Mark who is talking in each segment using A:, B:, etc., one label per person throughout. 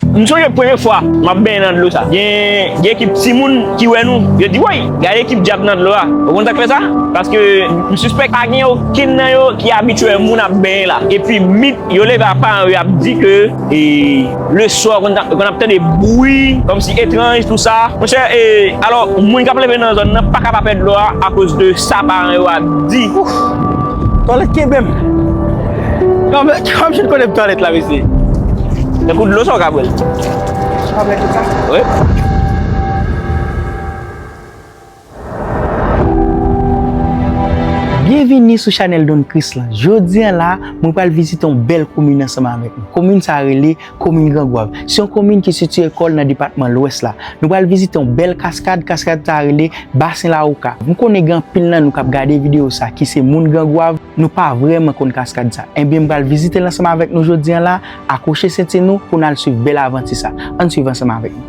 A: M sonje premye fwa m ap benyen nan dlo sa. Gen gen ekip timoun ki wè nou, yo di woy! Gade ekip djab nan dlo a. Ou konn sa k fè sa? Paske m sispèk pa gen okenn nan yo ki abitye wè moun ap benyen la. Epi mit yo leve a paran yo ap di ke e le swa ou konn ap tande bwi kòm si etranj tou sa. Monchè e alò moun k ap leve nan zòn nan pa ka pa pè dlo a akoz de sa paran yo ap di. Ouf! Twalèt
B: kenbe m! Kòm chen konnen pou twalet la mesye. Yon kout
A: dlo sa ou ka bwèl. Ou ka bwèl tout sa? Wi.
B: Byenvini sou chanèl Don Christ la. Jodi an la, mwen pral vizite yon bèl komin ansanm avèk nou. Komin sa rele. Komin Gran Gwav, se yon komin ki sitiye kò l nan depatman Lwès la. Nou pral vizite yon bèl kaskad, kaskad sa a rele Basen Lawoka. M konnen gen anpil nan nou k ap gade videyo sa a ki se moun Gran Gwav, nou pa vrèman konn kaskad sa a. Enben m pral vizite l ansanm avèk nou jodi an la a, akwoche senti nou pou n al swiv bèl avanti sa a. Ann swiv ansanm avèk m.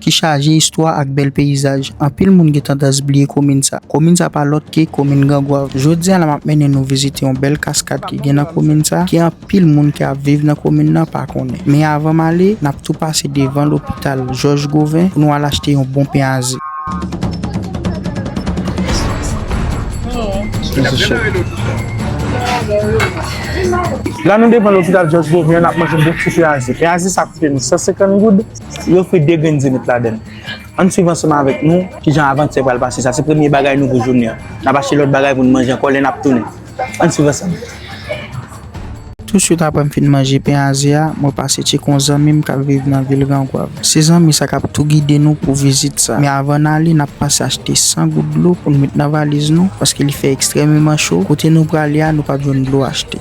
B: ki chaje istwa ak bèl peyizaj. Anpil moun gen tandans bliye komin sa. Komin sa pa lòt ke komin Gangwav. Jodi a la map mennen nou vizite yon bèl kaskad ki gen nan komin sa, ke anpil moun ki ap viv nan komin nan pa konnen. Men avan m ale, nap tou pase devan lopital Jòj Govin pou nou al achte yon bon pen aze. La nou devan lopital Jòj Govin an, nap manje bon ti pen aze. Pen aze sa koute nou 150 goud. Yo fri de grenn zenit ladann. Ann swiv ansanm avèk nou kijan avanti a pral pase. Sa se premye bagay nou pou jounen an. N ap achte lòt bagay pou n manje ankò lè n ap tounen. Ann swiv ansanm. Touswit apre m fin manje pen aze a, mwen pase tcheke yon zanmi m k ap viv nan vil Grangwav. Se zanmi sa k ap tou gide nou pou vizit sa. Men avan n ale, n ap pase achte 100 gout dlo pou n met nan valiz nou, paske li fè ekstrèmeman cho. Kote nou prale a, nou p ap jwenn dlo achte.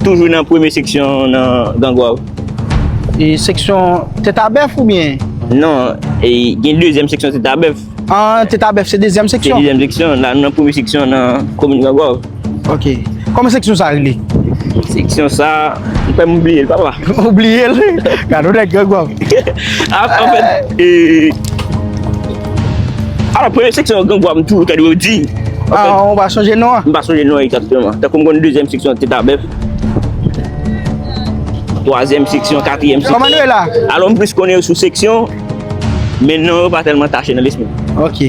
A: Toujou nan premye seksyon nan gangwav. E
B: seksyon teta bèf ou byen? Non,
A: gen dezyèm seksyon teta bèf. An, Teta Bèf
B: se dezyèm seksyon? Se dezyèm seksyon, la nou nan
A: premye seksyon nan komin Gangòv. Ok.
B: Kòman seksyon sa rele? Seksyon sa,
A: m kwè m bliye l papa. Ou bliye l?
B: Gad on nèg Gangòv. An fèt,
A: e, alò premye seksyon Gangòv m toujou tande yo di. An, ou pa
B: sonje non an? M pa sonje non an egzakteman.
A: Tankou m konn dezyèm seksyon Teta Bèf, twazyèm seksyon, katriyèm seksyon. Kòman nou ye la? Alò m
B: plis konnen yo sou
A: seksyon. Men non yo pa tèlman tache nan lespri m. Ok.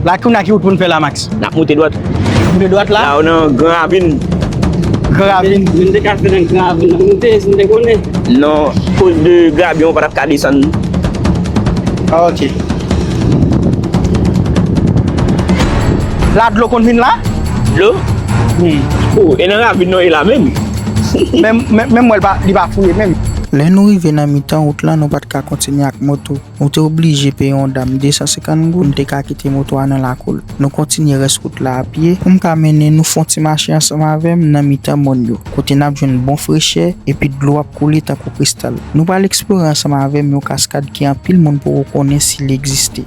B: La kounye a ki wout pou n fè la Max? N ap moute dwat.
A: Moute dwat la? La
B: ou nan gran ravin.
A: Gran
B: ravin? Si n te ka fè nan gran
C: ravin n ap moute si n te konnen. Non, koz de
A: grabyen ou pa t ap ka desann.
B: Ok. La dlo konn vin la? Dlo?
A: Wi. Ou, e nan ravin non e la menm?
B: Menm wè li pa fouye menm. Lè nou rive nan mitan wout lan, nou pa t ka kontinye ak moto. Nou te oblije peye yon dam 250 goud pou n te ka kite moto a nan lakou l. Nou kontinye rès wout la apye pou m ka mennen nou fè yon ti mache ansanm avè m nan mitan mòn yo, kote n ap jwenn bon frechè epi dlo ap koule tankou kristal. Nou pral eksplore ansanm avè m yon kaskad ke anpil moun poko konnen si li egziste.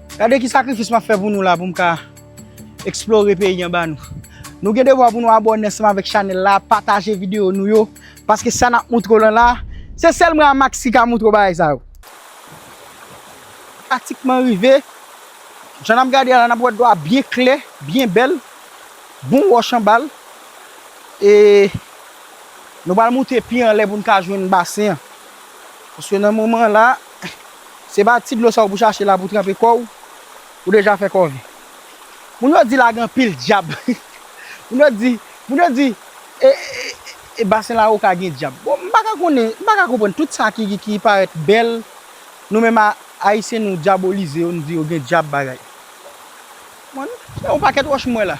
B: Gade ki sakrifis map fè pou nou la poum ka explore peyi anba nou. Nou gen devwa pou nou abòne ansanm avèk chanèl la, pataje videyo nou yo, paske sa nap moutre w lan la, se sèl mwen a Max ki ka moutre w bagay sa yo. Pratikman rive, jan nap gade a la nap wè dlo a byen klè, byen bèl, bon wòch anba l, e nou pral moute pi anlè poun ka jwenn basen an, paske nan moman la. Se pa ti dlo sa ou pou chache la pou tranpe kò ou, ou deja fè kòve. Moun yo di la gen anpil dyab. Moun yo di, moun yo di e basen lawoka gen dyab. Bon m pa ka konnen, m pa ka konprann tout sa ki parèt bèl, nou menm ayisyen nou dyabolize yo, nou di yo gen dyab bagay. Bon, se yon pakèt wòch m wè la.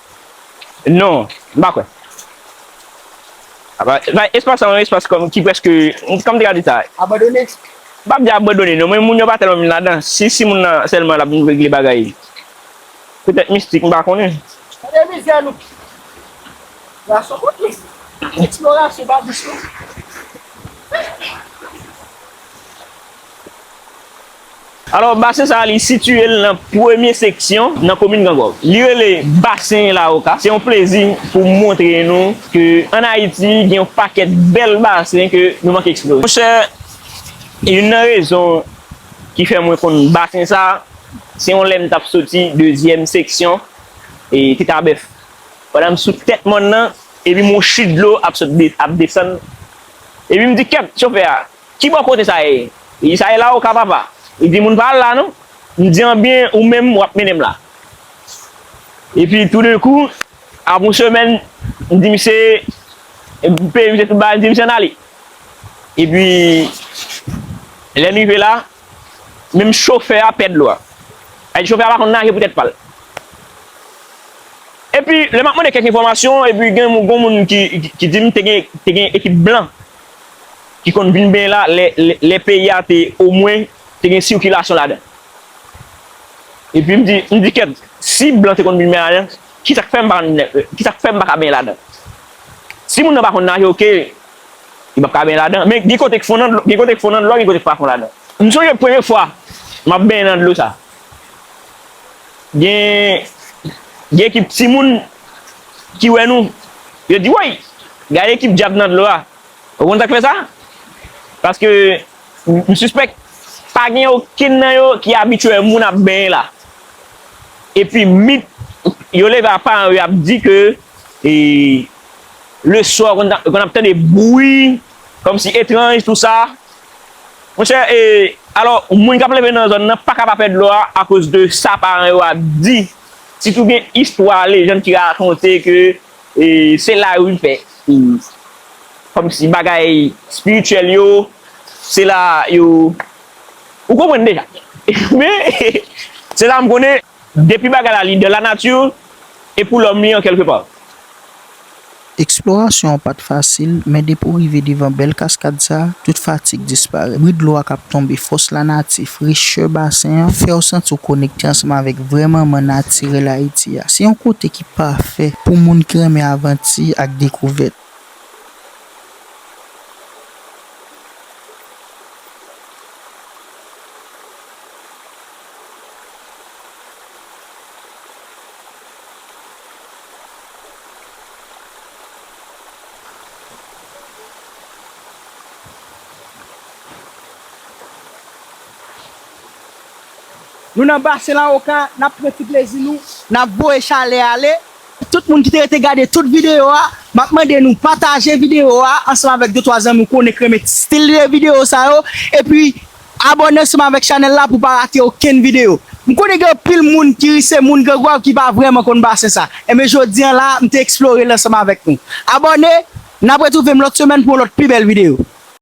B: Non,
A: m pa kwè. Espas sa yon espas kòm ki prèske, kòm m te ka di sa. Abandone?
B: M pap di
A: abandone non, men moun yo pa tèlman vin ladan. Si si moun nan sèlman l ap vin regle bagay, petèt mistik, m pa konnen. Tande mizè nou!
B: Gason kot nou? Eksplorasyon pa dous non.
A: Alò, basen sa a li sitiye l nan premye seksyon nan komin Grangòv. Li rele Basen Lawoka. Se yon plezi pou m montre nou ke ann Ayiti gen yon pakèt bèl basen ke nou manke eksplore. Monchè, youn nan rezon ki fè mwen konn basen sa a, se yon lè m t ap soti dezyèm seksyon Titabèf. Pandan m sou tèt mòn nan, epi m wè yon chit dlo ap sot, ap desann, epi m di kèt chofè a, Ki bò kote sa ye? Li di, Sa e la oka, papa. Li di, Moun pa al la non. M di, Anben, ou menm, w ap mennen m la. Epi, toudenkou, apre yon semèn, m di misye, m peye misye tout bagay, m di misye ann ale. Epi, lè n rive la, menm chofè a pè dlo a. Sa vle di chofè a pa konn naje pou tèt pa l. Epi, lè m ap mande kèk enfòmasyon, epi gen yon moun ki di m te gen ekip blan. ki konn vin benyen la lè peyi a te omwen te gen sikilasyon ladan. Epi m di, m di kèt, si blan te konn vin benyen ladan, ki sa k fè m pa konn vin, ki sa k fè m pa ka benyen ladan? Si moun nan pa konn naje oke, li p ap ka benyen ladan. Men gen kote k fon nan dlo, gen kote k fon nan dlo a, gen kote k pa fon ladan. M sonje premye fwa m ap benyen nan dlo sa, gen, gen ki timoun. ki wè nou, yo di, Woy! Gade ekip dyab nan dlo a! Ou konn sa k fè sa? Paske, m sispèk, pa gen okenn nan yo ki abitye moun ap benyen la. Epi mit yo leve a paran yo ap di ke le swa ou konn ap tande bwi kòm si etranj tou sa. Monchè, e, alò, moun k ap leve nan zòn nan pa ka pa pè dlo a akoz de sa paran yo ap di Sitou gen istwa, lejann ki rakonte ke se la yo vin fè kòm si bagay espirityèl yo, se la yo, ou konprann deja. Men, se sa m konnen, depi bagay la li dan la nati e pou lòm li an kèlke pa. Eksplorasyon
D: an pa t fasil, men depi w rive devan bèl kaskad sa a, tout fatig disparèt. Bri dlo a k ap tonbe, fòs lanati, frechè basen an fè w santi w konekte ansanm avèk vrè manman natirèl Ayiti a. Se yon kote ki pafè pou moun ki renmen avanti ak dekouvèt.
B: Nou nan basen la oka nap pran ti plezi nou nap voye chalè ale. Tout moun ki te rete gade tout video a map mande nou pataje video a ansanm avèk de twa zanmi ou konnen k renmen stil de video sa yo epi Abòne sou m avèk chanèl la pou pa rate okenn videyo. M konnen gen anpil moun ki ri se moun Gran Gwav ki pa vrèman konn basen sa. Enben jodi an la a m te eksplore l ansanm avèk nou. Abòne, n ap retwouve m lòt semèn pou yon lòt pi bèl videyo.